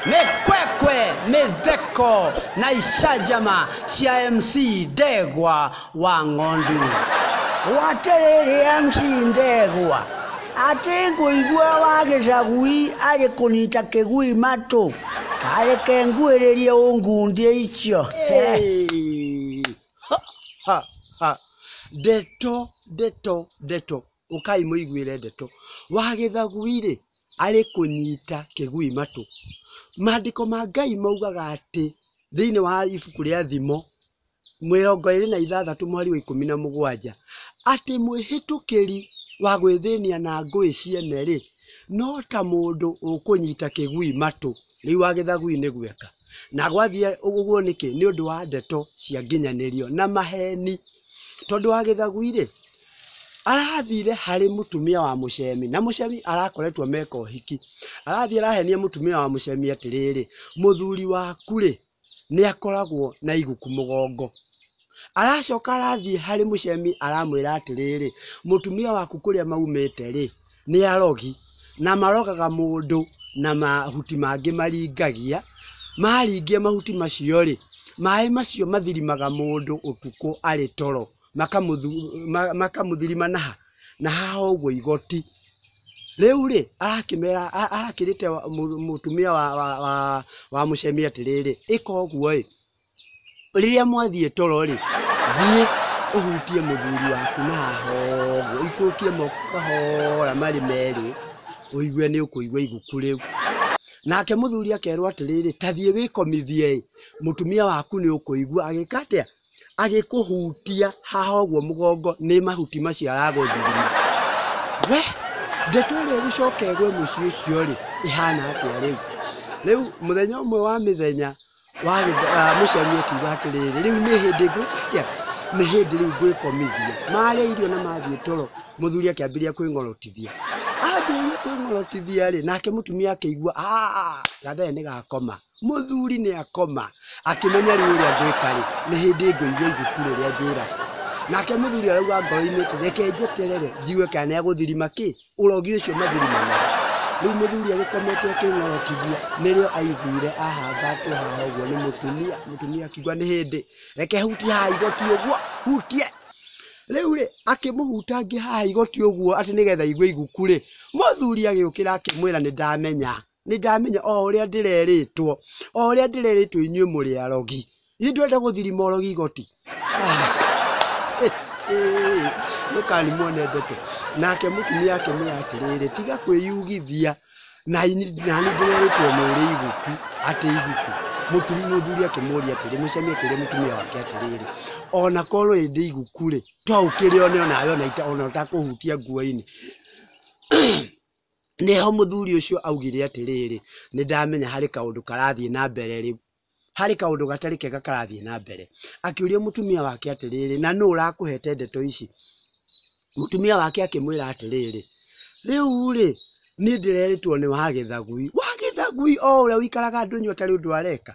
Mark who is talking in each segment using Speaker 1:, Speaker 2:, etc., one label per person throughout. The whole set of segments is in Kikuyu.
Speaker 1: mekwekwe mitheko na icanjama cia mc ndegwa wa ng'ondu waterere mc ndegwa atĩ ngũigua wa gĩcagui arĩ kũnyita kĩgui matũ tareke nguĩrĩrie ũngundie icio ndeto ndeto ndeto ũkai mũiguĩre ndeto. Wa gĩthagui-rĩ, arĩ kũnyita kĩgui matũ. Maandĩko ma Ngai maugaga atĩ thĩiniĩ wa ibuku rĩa Thimo, mĩrongo ĩrĩ na ithathatũ mweri wa ikũmi na mũgwanja, atĩ mwĩhĩtũkĩri wa gwĩthĩnia na ngũĩ ciene-rĩ, no ta mũndũ ũkũnyita kĩgui matũ. Rĩu wa gĩthagui nĩ gweka. Na gwathiĩ ũguo nĩkĩ? Nĩ ũndũ wa ndeto cia nginyanĩrio na maheni. Tondũ wa gĩthagui-rĩ, Arathire harĩ mũtumia wa mũcemi, na mũcemi arakoretwo meka ũhiki. Arathiĩ arahenia mũtumia wa mũcemi atĩrĩrĩ, mũthuri waku-rĩ, nĩ akoragwo na iguku mũgongo. Aracoka arathiĩ harĩ mũcemi aramwĩra atĩrĩrĩ, mũtumia waku kũrĩa maumĩte-rĩ, nĩ arogi, na marogaga mũndũ na mahuti mangĩ maringagia, maringia mahuti macio-rĩ, maĩ macio mathirimaga mũndũ ũtukũ arĩ toro. makamũthirima na ha, na haha ũguo igoti. Rĩu rĩ, arakĩmera, arakĩrĩte mũtumia wa, wa, wa, wa mũcemi atĩrĩrĩ, ĩka ũguo ĩ, rĩrĩa mwathiĩ toro rĩ, thiĩ ũhutie mũthuri waku na haha ũguo, ikũrũkie moko kahora marĩ merĩ, ũigue nĩ ũkũigua iguku rĩu. Nake mũthuri akerwo atĩrĩrĩ, ta thiĩ wĩkomithie ĩ, mũtumia waku nĩ ũkũigua, agĩka atĩa? agĩkũhutia haha ũguo mũgongo nĩ mahuti macio aragũthurire. We, ndeto ĩrĩa ĩgũcoka ĩgwe mũciĩ ũcio-rĩ, ĩhana atĩa rĩu? Rĩu mũthenya ũmwe wa mĩthenya wa gĩthe- ah, mũciari akiuga atĩrĩrĩ, rĩu nĩ hĩndĩ ngwĩka atĩa? Nĩ hĩndĩ rĩu ngwĩkomithia. Marĩa irio na mathiĩ toro, mũthuri akĩambĩrĩria kwĩng'orotithia. Ambĩrĩria kwĩng'orotithia-rĩ, nake mũtumia akĩigua "Ah, gathere nĩ gakoma. Mũthuri nĩakoma, akĩmenya rĩu ũrĩa ngwĩka-rĩ, nĩ hĩndĩ ngũigua ibuku rĩrĩa njĩragwo. Nake mũthuri arauga ngoro-inĩ atĩrĩ, reke njeterere njigue kana nĩegũthirima kĩ? Ũrogi ũcio mathirima naguo. Rĩu mũthuri agĩkomete akĩng'orokithia, nĩrĩo aiguire ahangatwo haha ũguo nĩ mũtumia, mũtumia akiuga nĩ hĩndĩ, reke hutie haha igoti ũguo, hutie. Rĩu-rĩ, akĩmũhuta angĩ haha igoti ũguo atĩ nĩgetha aigue iguku-rĩ, mũthuri agĩũkĩra akĩmwĩra nĩndamenya. Nĩ ndamenya o ũrĩa ndĩrerĩtwo, o ũrĩa ndĩrerĩtwo inyuĩ mũrĩ arogi. Githĩ ndũrenda gũthiri morogi igoti? Mũkani muone ndeto. Nake mũtumia akĩmwĩra atĩrĩrĩ, tiga kwĩyugithia, na nĩ ndĩrerĩtwo nĩ ũrĩ iguku, atĩ iguku. Mũtumia mũthuri akĩmũria atĩrĩ, mũcemi akĩũria mũtumia wake atĩrĩrĩ, ona korwo ĩ ndĩ iguku-rĩ, to ũkĩrĩone onawe ona ũtakũhutia nguo-inĩ. Nĩho mũthuri ũcio augire atĩrĩrĩ, nĩ ndamenya harĩ kaũndũ karathiĩ na mbere rĩu. Harĩ kaũndũ gatarĩ kega karathiĩ na mbere. Akĩũria mũtumia wake atĩrĩrĩ, na nũ ũrakũhete ndeto ici? Mũtumia wake akĩmwĩra atĩrĩrĩ, rĩu-rĩ, niĩ ndĩrerĩtwo nĩ wa gĩthagui. Wa gĩthagui o ũrĩa ũikaraga ndũnyũ atarĩ ũndũ areka?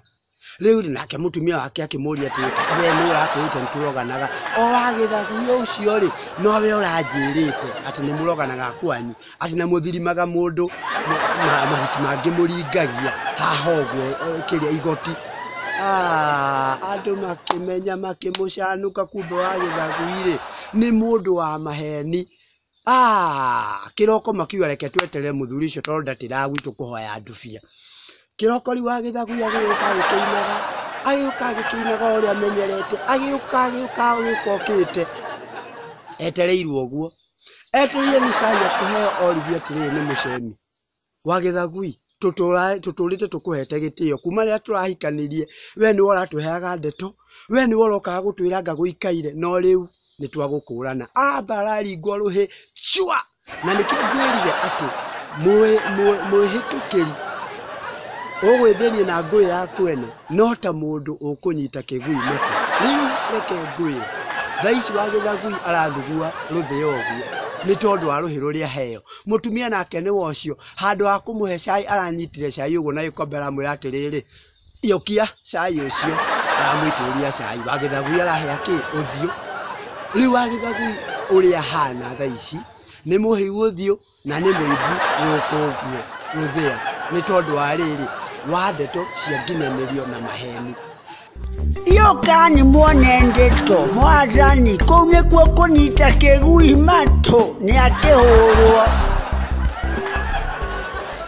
Speaker 1: Rĩu rĩ nake mũtumia wake akĩmũria atĩrĩ, "Kaka we nĩ ũratwĩrĩte nĩ tũroganaga? O agĩtharia ũcio rĩ, nowe ũranjĩrĩte atĩ nĩ mũroganaga kwanyu, atĩ na mũthirimaga mũndũ ma- ma- mahuti mangĩ mũringagia haha ũguo eh, kĩrĩa igoti Ah, andũ makĩmenya makĩmũcanũka kumbe wa gĩthagui-rĩ nĩ mũndũ wa maheni Aah! Kĩroko makiuga reke tweterere mũthuri ũcio tondũ ndatĩraga gwitũ kũhoya ndubia. Kĩroko rĩu wa gĩthagu agĩũka agĩkĩinaga, agĩũka agĩkĩinaga o ũrĩa amenyerete, agĩũka agĩũka agĩũka okĩte. Etereirwo ũguo. Etereire nĩ cai ekũheo oririe atĩrĩrĩ nĩ mũcemi. Wagetha gui? Tũtũũrĩte tũkũhete gĩtĩo kuma rĩrĩa tũrahikanirie, we nĩwe ũratũheaga ndeto, we nĩwe ũrokaga gũtwĩra anga gũikaire, no rĩu nĩ twagũkũrana. Aah! Mbara aringwo rũhĩ, cua! Na nĩkĩo ngwĩrire atĩ mwĩhĩtũkĩri ũgwĩthĩnie na ngũĩ ya kwene no ta mũndũ ũkũnyita kĩgui mũtwe. Rĩu reke ngwĩre, thaa ici Wagetha gui arathugua rũthĩa ũguo nĩ tondũ wa rũhĩ rũrĩa aheo. Mũtumia nake nĩ wa ũcio, handũ ha kũmũhe cai aranyitire cai ũguo na gĩkombe aramwĩra atĩrĩrĩ, iyũkia cai ũcio, aramũitĩrĩria cai. Wa gĩthagui arahĩa kĩ? Ũthiũ. Rĩu wa gĩthagui ũrĩa ahana thaa ici nĩ mũhĩu ũthiũ na nĩ mũimbu gũkũ ũguo rũthĩa, nĩ tondũ wa rĩrĩ, wa ndeto cia nginyanĩrio na maheni. yokani mwonende to mwathani kũu nĩkuo kũnyita kĩgui matũ nĩ akĩhũrwo